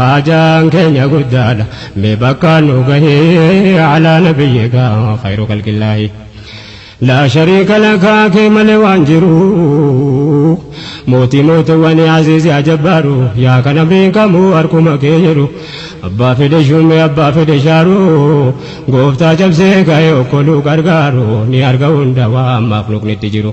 Haajaan keenya guddaadha mee bakkaan nu gahi alaa nabiyyika khayru khalqillaahi laa shariika lakaa kee malee waan jiru mootii mootowwani aziizi ajabbaaru yaa kan amriin kamuu harkuma kee jiru abbaa fedhe shumee abbaa fedhe shaaru gooftaa cabsee ka'ee okkoluu gargaaru ni arga hunda waan makhluuqnitti jiru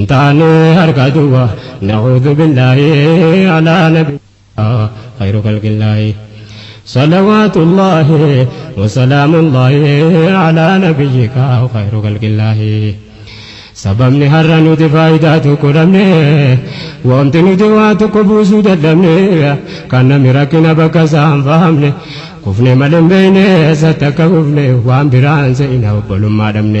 Ntaane harka duwwa na'uudhu billaahi alaa nabi khayru khalqillaahi salawaatullaahi wasalaamullaahi alaa nabiyyika khayru khalqillaahi sababni har'a nuti faayidaa tokko dhabne wanti nuti waa tokko buusuu dadhabne kan nami rakkina bakka isaa hin fahamne kufne malee hin beekne isatti akka kufne waan biraan se'ina obbolummaa dhabne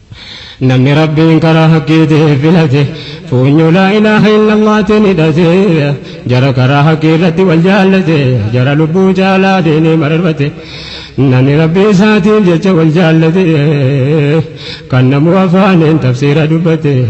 Namni Rabbiin karaa haqqiitiif filate, fuunyoo laa ilaaha illallaatiin hidhate, jara karaa haqqii irratti wal jaallate, jara lubbuu caalaa diinii mararfate, namni Rabbii isaatiif jecha wal jaallate, kan namuu afaaniin tafsiira dubbate.